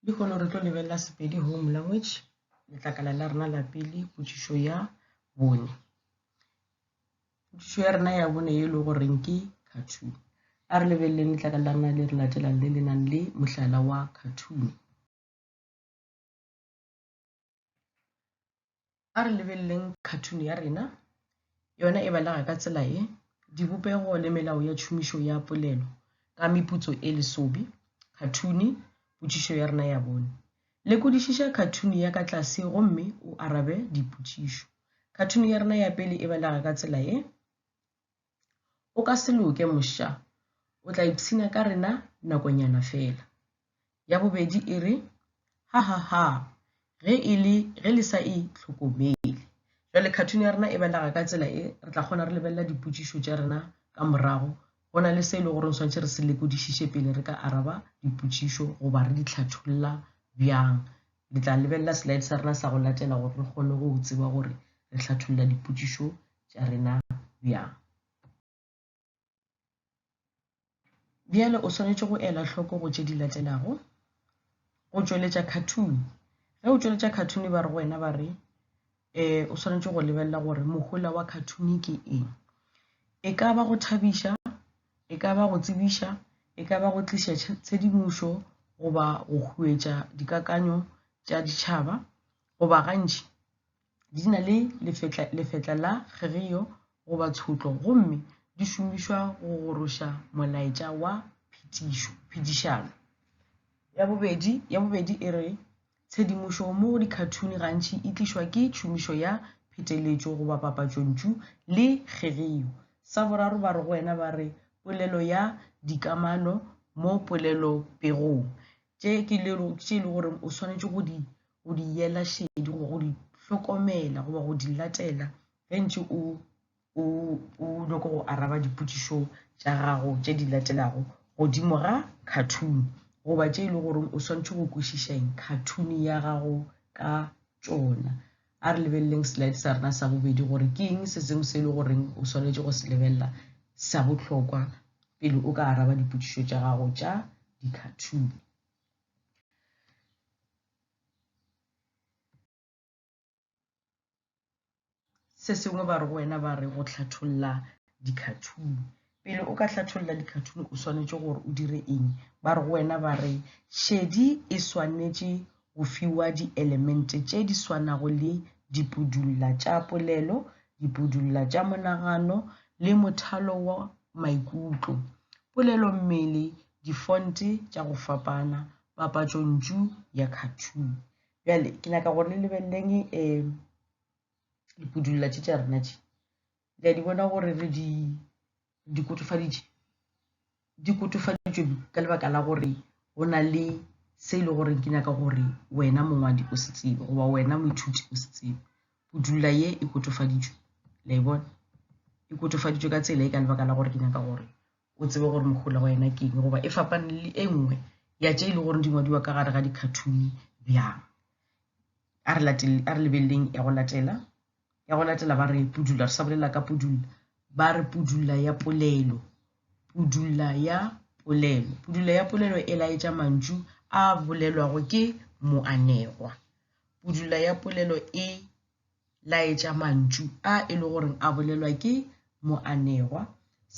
lehono re tlo lebelela sepedi home language letlakala la rena la pele potšišo ya bone potšišo ya rena ya bone e le goreng ke cartoon a re lebeleleng letlakala la rena le re latelang le le nang le mohlala wa cartoon A re lebeleleng cartoon ya rena, yona e balega ka tsela e, dibopego le melao ya tšhomišo ya polelo ka meputso e lesobi, khathuni, potšišo ya rena ya bone. Lekodišiša khathuni ya ka tlase gomme o arabe dipotšišo. Khathuni ya rena ya pele e balega ka tsela e. O ka se loke, mosha. O tla ipshina ka rena nakonyana feela. Ya bobedi e re, Ha-ha-ha! Ge e le ge le sa e hlokomele. Jwale khathune ya rena e belega ka tsela e re tla kgona re lebelela dipotšišo tša rena ka morago, go na le se e le gore swantšhe re se lekodišiše pele re ka araba dipotšišo goba re di hlatholla bjang. Le tla lebelela slide sa rena sa go latela gore re kgone go tseba gore re hlatholla dipotšišo tša rena bjang? Bjale o swanetše go ela hloko go tše di latelago. Go tšweletša khathuni. Ge o tšweletša khathuni ba re go wena ba re um o swanetše go lebelela gore mohola wa khathuni ke eng. E ka ba go thabiša, e ka ba go tsebiša, e ka ba go tliša tshedimošo goba go huetša dikakanyo tša ditšhaba goba gantši Di na le lefetla, lefetla la kgerio goba tshotlo gomme di šomišwa go goroša molaetša wa phetišo, phedišano. Ya bobedi, ya bobedi e re, Tshedimošo mo go dikhathuni gantši e tlišwa ke tšhomišo ya pheteletšo goba papatšontšu le kgerio. Sa boraro ba re go wena ba re, Polelo ya dikamano mo polelopegong, tše ke le, tše e le goreng o swanetše go di go di yela šedi goba go di hlokomela goba go di latela ge ntše o o o nyoko go araba dipotšišo tša gago tše di latelago godimo ga cartoon goba tše e le gore o swantšhe go kwešišeng cartoon ya gago ka tšona a re lebeleleng slide sa rena sa bobedi gore ke eng se sengwe se e le goreng o swanetše go se lebelela sa bohlokwa pele o ka araba dipotšišo tša gago tša di-cartoon se sengwe ba re go wena ba re go hlatholla dikhathuni pele o ka hlatholla dikhathuni o swanetše gore o dire eng ba re go wena ba re šedi e swanetše go fiwa dielemente tše di swanago le dipudulla tša polelo dipudulla tša monagano le mothalo wa maikutlo polelommele difonte tša go fapana papatšontšu ya cartoon bjale ke nyaka gore le lebeleleng um eh, dipudulla tše tša rena tše le a di bona gore re di di kotofaditše di kotofaditšwe ka lebaka la gore go na le se e le goreng ke nyaka gore wena mongwadi o se tsebe goba wena moithuti o se tsebe pudulla ye e kotofaditšwe la e bona e kotofaditšwe ka tsela e ka lebaka la gore ke nyaka gore o tsebe gore mohola wa yena ke eng goba e fapane le e nngwe ya tše e le gore di ngwadiwa ka gare ga dikhathuni bjang a re latele a re lebeleleng ya go latela ya go latela ba re pudula re sa bolela ka pudula ba re pudula ya polelo pudula ya polelo pudula ya polelo e laetša mantšu a bolelwago ke moanegwa pudula ya polelo e laetša mantšu a e le gore a bolelwa ke moanegwa.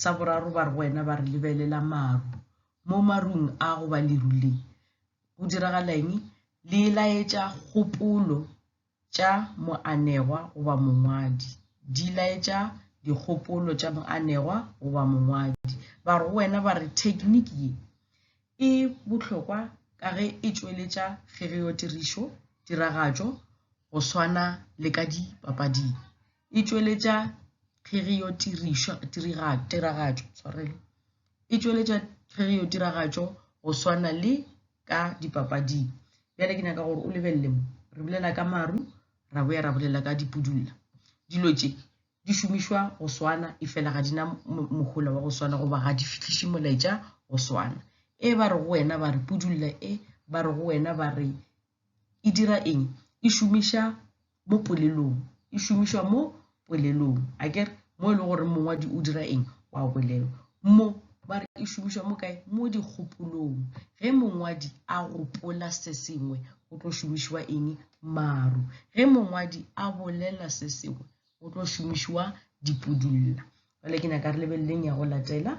Sa boraro, ba re go wena ba re lebelela maru. Mo marung a go ba leru le go diragala eng? Le laetša kgopolo tša moanegwa goba mongwadi. Di laetša dikgopolo tša moanegwa goba mongwadi. Ba re go wena ba re thekniki ye E bohlokwa ka ge e tšweletša kgereotirišo, tiragatšo, go swana le ka dipapading. E tšweletša kgereotirišo, tiragatšo, sorry, e tšweletša kgereotiragatšo go swana le ka dipapading. Bjale ke nyaka gore o lebelele mo. Re bolela ka maru, ra boya ra bolela ka dipudulla. Dilo tše di šomišwa go swana efela ga di na mohola wa go swana goba ga di fihliše molaetša go swana e ba re go wena ba re pudulla e ba re go wena ba re e dira eng e šomiša mo polelong e šomišwa mo polelong a ke re mo e le gore mongwadi o dira eng wa bolelo mo ba re e šomišwa mo kae mo dikgopolong ge mongwadi a gopola se sengwe go tlo šomišwa eng maru ge mongwadi a bolela se sengwe go tlo šomišiwa dipudulla jale ke nyaka re lebeleleng ya go latela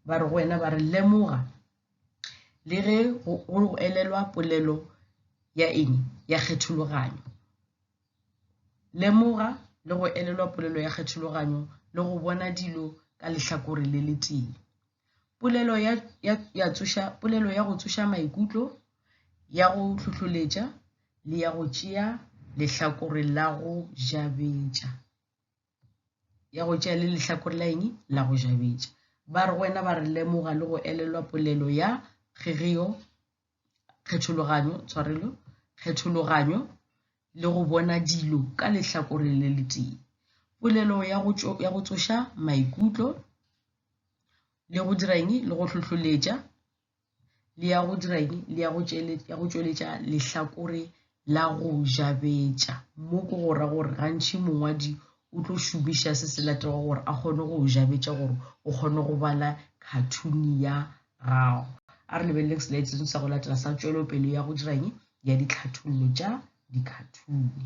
ba re go wena ba re lemoga le ge go elelwa polelo ya eng ya kgethologanyo lemoga le go elelwa polelo ya kgethologanyo le go bona dilo ka lehlakore le letee polelo ya, ya, ya, tsoša, polelo ya go tsoša maikutlo ya go hlohloletša le ya go tšea lehlakore la go jabetša ya go tšea le lehlakore la eng la go jabetša ba re go wena ba re lemoga le go elelwa polelo ya kgegeo kgethologanyo tshwarelo kgethologanyo le go bona dilo ka lehlakore le letee polelo ya go tšo ya go tsoša maikutlo le go dira eng le go hlohloletša le ya go dira eng le ya go tšweletša ya go tšweletša lehlakore la go jabetša. Mo ke go ra gore gantši mongwadi o tlo šomiša se se latego gore a kgone go jabetša gore o kgone go bala khathuni ya gago. A re lebeleleng selaete seno sa go latela sa tšwelopele ya go dira'ng ya ditlhathollo tša dikhathuni.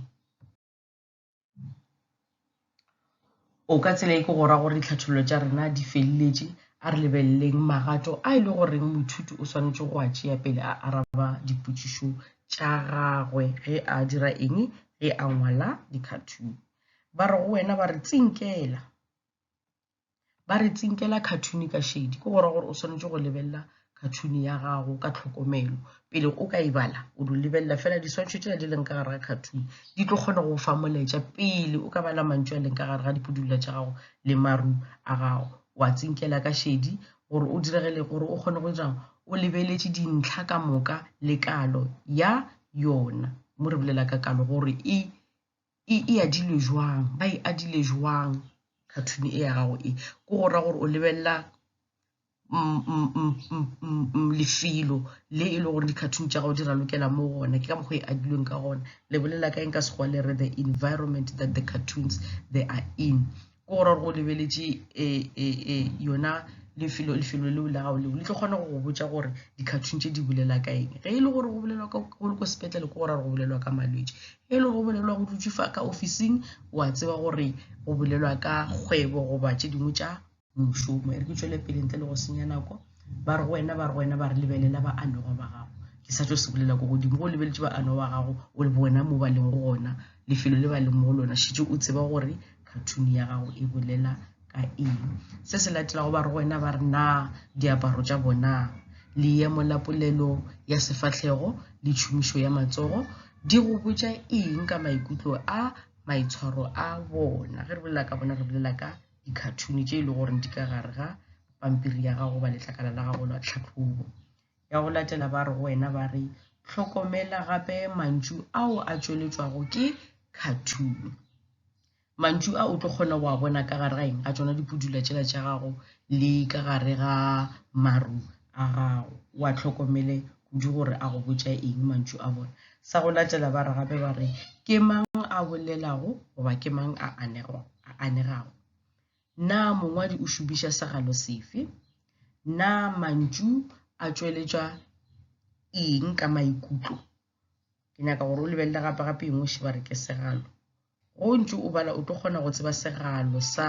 o ka tsela e ke go ra gore ditlhathololo tša rena di feleletše a re lebeleleng magato a e le goreng moithuti o swanetše go a tšea pele a araba dipotšišo tša gagwe ge a dira eng ge a ngwala dikhathuni ba re go wena ba re tsinkela ba re tsinkela cartoon ka shedi ke gora gore o swanetše go lebelela cartoon ya gago ka tlhokomelo pele o ka e bala o do lebelela fela diswantšho tšela di leng ka gare ga cartoon di tlo kgona go fa moletša pele o ka bala mantšu a leng ka gare ga dipudulla tša gago le maru a gago wa tsinkela ka shedi gore o diregele gore o kgone go dirang o lebeletše dintlha ka moka le kalo ya yona mo re bolela ka kalo gore e e e adilwe jwang ba e adile jwang cartoon e ya gago e ko go ra gore o lebelela lefelo le e le gore di-cartoon tša gago di ralokela mo gona ke ka mokgwa e adilweng ka gona lebolela ka eng ka sekgowa le re the environment that the cartoons they are in ke gore go lebeletše yona lefelo lefelo leo la gago leo le tlo kgona go go botša gore di-cartoon tše di bolela ka eng ge e le gore go bolelwa ka go le ko sepetlele ke gore go bolelwa ka malwetši ge e le go bolelwa go dutše fa ka officing wa tseba gore go bolelwa ka kgwebo goba tše dingwe tša mošomo e re ke tšwele pele ntle le go senya nako ba re go wena ba re go wena ba re lebelela ba anoga ba gago ke sa tšo se bolela ko godimo go lebeletše ba anoga ba gago o le bo wena mo ba leng go gona lefelo le ba leng mo go lona šitše o tseba gore khathuni ya gago e bolela ka eng se se latelago ba re go wena ba re na diaparo tša bona leemo la polelo ya sefahlego le tšhomišo ya matsogo di go botša eng ka maikutlo a maitshwaro a bona ge re bolela ka bona re bolela ka dikhathuni tše e le goreng di ka gare ga pampiri ya gago ba letlakala la gago la tlhatlhobo Ya go latela ba re go wena, ba re, Hlokomela gape mantšu ao a tšweletšwago ke khathuni. Mantšu a o tlo kgona go a bona ka gare ga eng? Ga tšona dipudula tšela tša gago le ka gare ga maru a gago. O a tlhokomele kudu gore a go botša eng mantšu a bona. Sa go latela ba re gape ba re, Ke mang a bolelago goba ke mang a anegago? Na mongwadi o šomiša segalo sefe? Na mantšu a tšweletšwa eng ka maikutlo? Ke nyaka gore o lebelele gape-gape eng o šiba re ke segalo. Go ntše o bala, o tlo kgona go tseba segalo sa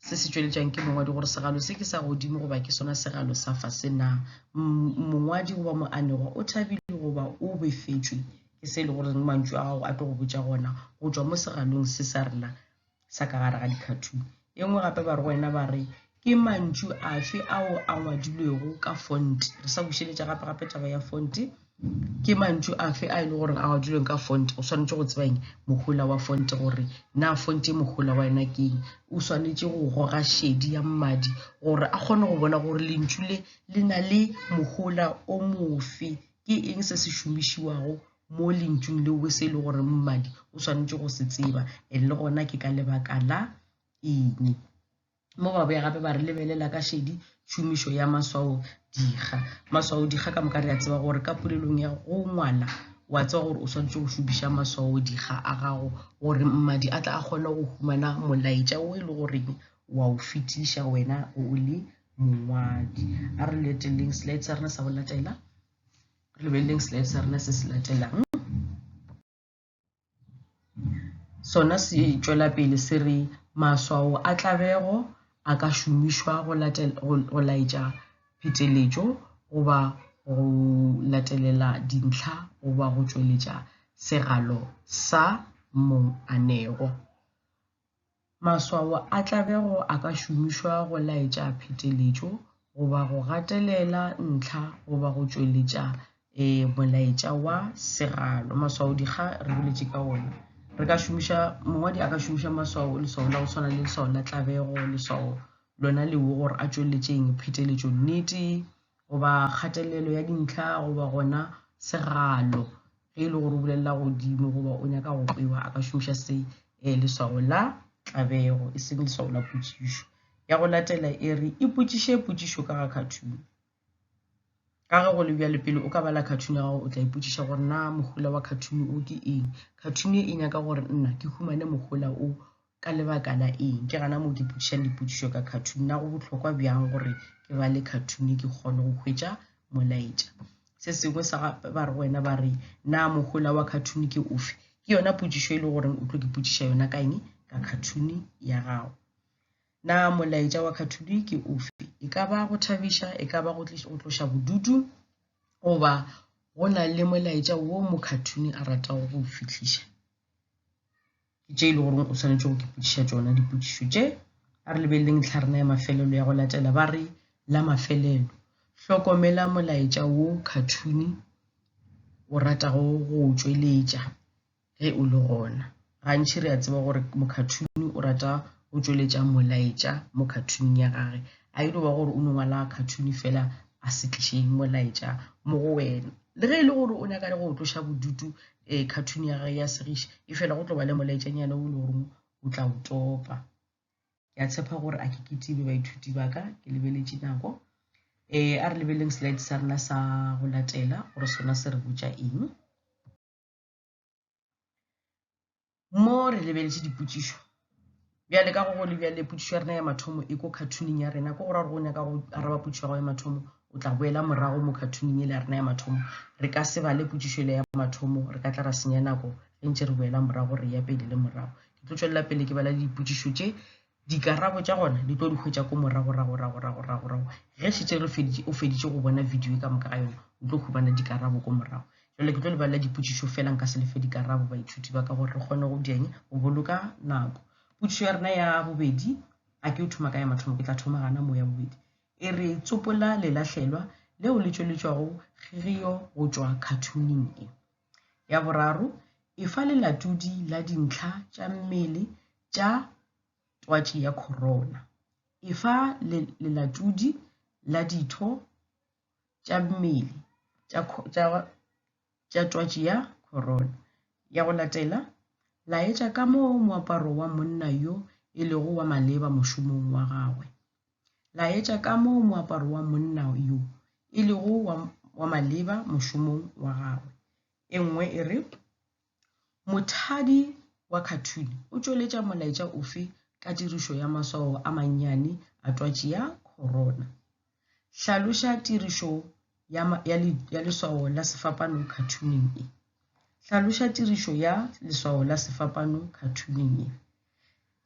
se se tšweletšang ke mongwadi gore segalo se ke sa godimo goba ke sona segalo sa fase na mongwadi goba moanegwa o thabile goba o befetšwe ke se e le goreng mantšu a gago a tlo go botša gona go tšwa mo segalong se sa rena sa ka gare ga dikhathuni. E nngwe gape ba re go wena ba re ke mantšu afe ao a ngwadilwego ka fonte re sa bušeletša gape gape taba ya fonte ke mantšu afe a e le gore a ngwadilweng ka fonte o swanetše go tsebang mohola wa fonte gore na fonte e mohola wa yona ke eng o swanetše go goga šedi ya mmadi gore a kgone go bona gore lentšu le le na le mohola o mofe ke eng se se šomišiwago mo lentšung leo e se e le gore mmadi o swanetše go se tseba and le gona ke ka lebaka la eng mo ba boya gape ba re lebelela ka šedi tšhomišo ya maswao dikga maswao dikga ka moka re a tseba gore ka polelong ya go ngwala wa tseba gore o swanetše go šomiša maswao dikga a gago gore mmadi a tla a kgone go humana molaetša o e le goreng wa o fetiša wena o le mongwadi a re leteleng slide sa rena sa go latela re lebeleleng slide sa rena se se latelang sona se tšwela pele se re maswao a tlabego a ka šomišwa go laetša pheteletšo goba go latelela dintlha goba go tšweletša segalo sa mong a nego Maswao a tlabego a ka šomišwa go laetša pheteletšo goba go gatelela ntlha goba go tšweletša e molaetša wa segalo. Maswao dikga re boletše ka ona. Re ka šomiša, mongwadi a ka šomiša maswao, leswao la go tshwana le leswao la tlabego, leswao lona lewo gore a tšweletšeng pheteletšo nnete, goba kgatelelo ya dintlha goba gona segalo ge e le gore o bulelela godimo goba o nyaka go kwewa a ka šomiša se e leswago la tlabego e seng leswago la potšišo ya go latela e re ipotšiše potšišo ka ga cartoon ka ge go le bjale pele o ka bala cartoon ya gago o tla ipotšiša gore na mohola wa cartoon o ke eng cartoon e nyaka gore nna ke humane mohola o Ka lebaka la eng? Ke gana moo ke ipotšišang dipotšišo ka cartoon. Na go bohlokwa bjang gore ke ba le cartoon ke kgone go hwetša molaetša? Se sengwe sa ba re wena ba re na mohola wa cartoon ke ofe? Ke yona potšišo e le goreng o tlo ke potšiša yona ka eng? Ka cartoon ya gago. Na molaetša wa cartoon ke ofe? E ka ba go thabiša, e ka ba go tloša bodutu, goba go na le molaetša wo mo cartoon a ratago go fihliša. Ke tše e le goreng o swanetše go kepodiša tšona dipotšišo tše. A re lebeleleng ntlharena ya mafelelo ya go latela. Ba re, La mafelelo. Hlokomela molaetša wo khathuni o ratago go o tšweletša ge o le gona. Gantši re a tseba gore mokhathuni o rata go tšweletša molaetša mo khathuning ya gage. A e no ba gore o no ngwala khathuni fela a se tliše molaetša mo go wena. Le ge e le gore o nyaka le go tloša bodutu, um cartoon ya gage ya segiša e fela go tlo ba le molaetšanyana o le goreng o tla o topa. Ke a tshepa gore a ke ketibe baithuti ba ka, ke lebeletše nako. Um a re lebeleng slide sa rena sa go latela gore sona se re botša eng. mo re lebeletše dipotšišo bjale ka go go le bjale potšišo ya rena ya mathomo e ko cartooning ya rena ko go ra gore go nyaka go araba potšišo ya gago ya mathomo o tla boela morago mo cartooning e le ya rena ya mathomo re ka se bale potšišo e le ya mathomo re ka tla ra senya nako ge ntse re boela morago re ya pele le morago ke tlo tswelela pele ke bala le dipotšišo tše Dikarabo tša gona di tlo di hwetša ko moragoragoragoragoragorago ge šetše re feditše o feditše go bona video e ka moka ga yona o tlo humana dikarabo ko morago. Jale ke tlo le balela dipotšišo fela nka se le fe dikarabo baithuti ba ka gore re kgone go dieng go boloka nako. Potšišo ya rena ya bobedi a ke o thoma ka ya mathomo ke tla thoma gana mo ya bobedi e re tsopola lelahlelwa leo le tšweletšwago kgirio go tšwa cartooning e. Ya boraro e fa lelatodi la dintlha tša mmele tša twatši ya khorona. Efa lelatodi la ditho tša mmele tša twatši ya khorona. Ya go latela, laetša ka moo moaparo wa monna yo e lego wa maleba mošomong wa gagwe. Laetša ka moo moaparo wa monna yo e lego wa maleba mošomong wa gagwe. E nngwe e re, Mothadi wa khathune o tšweletša molaetša ofe ka tirišo ya maswao a mannyane a twatši ya khorona? Hlaloša tirišo ya, ya, le, ya leswao la sefapano khathuneng e. Hlaloša tirišo ya leswao la sefapano khathuneng e.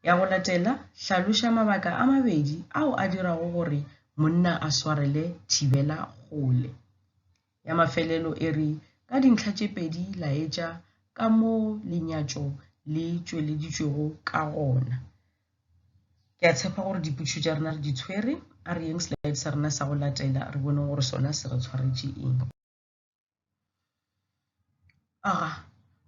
Ya go latela, hlaloša mabaka a mabedi ao a dirago gore monna a swarele thibela kgole. Ya mafelelo e re, Ka dintlha tše pedi laetša ka moo lenyatšo le tšweleditšwego ka gona. Ke a tshepa gore dipotšišo tša rena re di tshwere. A re yeng slide sa rena sa go latela re boneng gore sona se re tshwaretše eng. Aga,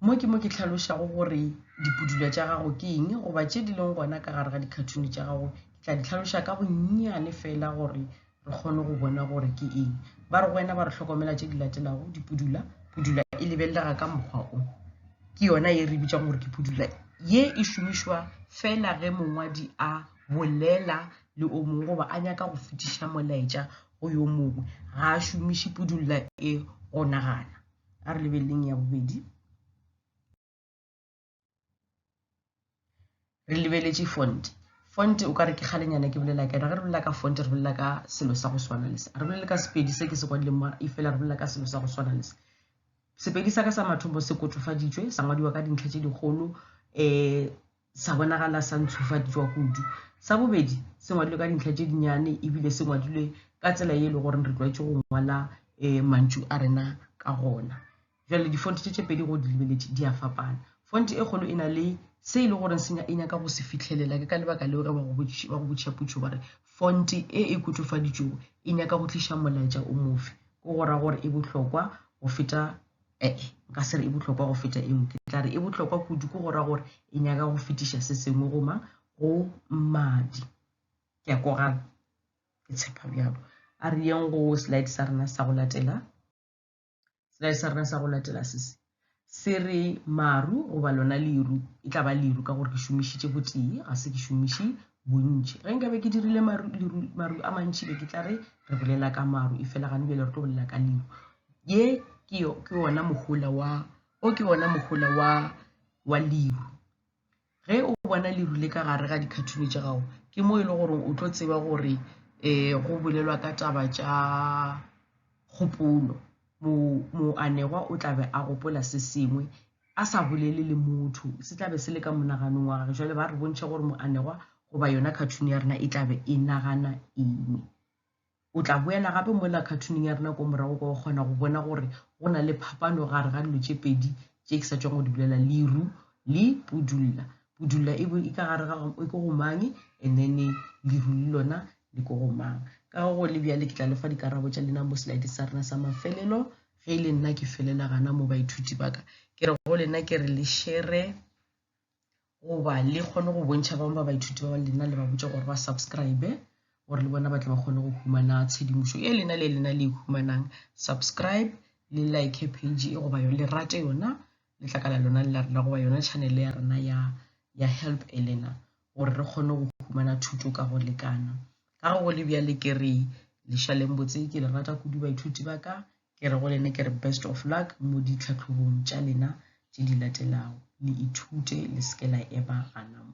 mo ke mo ke tlhalošago gore dipudula tša gago ke eng goba tše di leng gona ka gare ga dikhathuni tša gago ke tla di tlhaloša ka bonnyane fela gore re kgone go bona gore ke eng ba re go wena ba re hlokomela tše di latelago dipudula pudula e lebelega ka mokgwa o ke yona ye re bitšang gore ke pudula ye e šomišwa fela ge mongwadi a bolela le o mongwe goba a nyaka go fetiša molaetša go yo mongwe ga a šomiše pudula e go nagana a re lebeleleng ya bobedi re lebeletše font font o ka re ke kgalenyana ke bolela ka yona ge re bolela ka font re bolela ka selo sa go swana le se re bolele ka sepedi se ke se kwadileng mo e fela re bolela ka selo sa go swana le se sepedi sa ka sa mathomo se kotofaditswe sa ngwadiwa ka dintlha tše dikgolo um sa bonagala sa ntshufaditšwa kudu. Sa bobedi, se ngwadilwe ka dintlha tše dinyane ebile se ngwadilwe ka tsela ye e le gore re tlwaetše go ngwala um mantšu a rena ka gona. Jwale difonte tše tše pedi go di lebeletše di a fapana. Fonte e kgolo e na le se e le gore se e nyaka go se fitlhelela. Ke ka lebaka leo ge ba go botšiša putšo ba re fonte e e kotofaditšwego e nyaka go tliša molaetša o mofe, ke go ra gore e bohlokwa go feta Ee, nka se re e bohlokwa go feta eo. Ke tla re e bohlokwa kudu ke go ra gore e nyaka go fetiša se sengwe go mang, go mmadi. Ke a kogana, ke tshepa bjalo. A re yeng go slide sa rena sa go latela. Slide sa rena sa go latela se se se re maru goba lona leru e tla ba leru ka gore ke šomišitše botee ga se ke šomiše bontši ge nkabe ke dirile maru a mantši be ke tla re re bolela ka maru e fela gane bjale re tlo bolela ka leru ye ke yo ke wona mohola wa o ke wona mohola wa wa liru ge o bona liru le ka gare ga dikhathuni tša gago ke mo e le gore o tlo tseba gore um go bolelwa ka taba tša kgopolo mo mo anegwa o tlabe a gopola se sengwe a sa bolele le motho se tlabe se le ka monaganong wa gage jale ba re bontšha gore mo anegwa goba yona khathuni ya rena e tlabe e nagana eng O tla boela gape mola khathuneng ya rena ko morago kwa go kgona go bona gore go na le phapano gare ga dilo tše pedi tše ke sa tšwang go di bolela, leru le pudulla. Pudulla e bo e ka gare ga e ko go mang and then leru le lona le ko go mang. Ka go le bjale ke tla lefa dikarabo tša lena mo slide sa rena sa mafelelo ge e le nna ke felela gana mo baithuti ba ka. Ke re go lena ke re le shere goba le kgone go bontšha bangwe ba baithuti ba lena le ba botša gore ba subscribe gore le bona ba tle ba kgone go humana tshedimošo e lena le lena le e humanang subscribe le like page e goba yone le rate yona le tlakala lona le la rena goba yona channel ya rena ya ya help elena gore re kgone go humana thuto ka go lekana ka go le bjale ke re lešaleng botse ke le rata kudu baithuti ba ka Ke re go lene ke re best of luck mo ditlhatlhobong tša lena tše di latelago. Le ithute le seke la eba gana mo.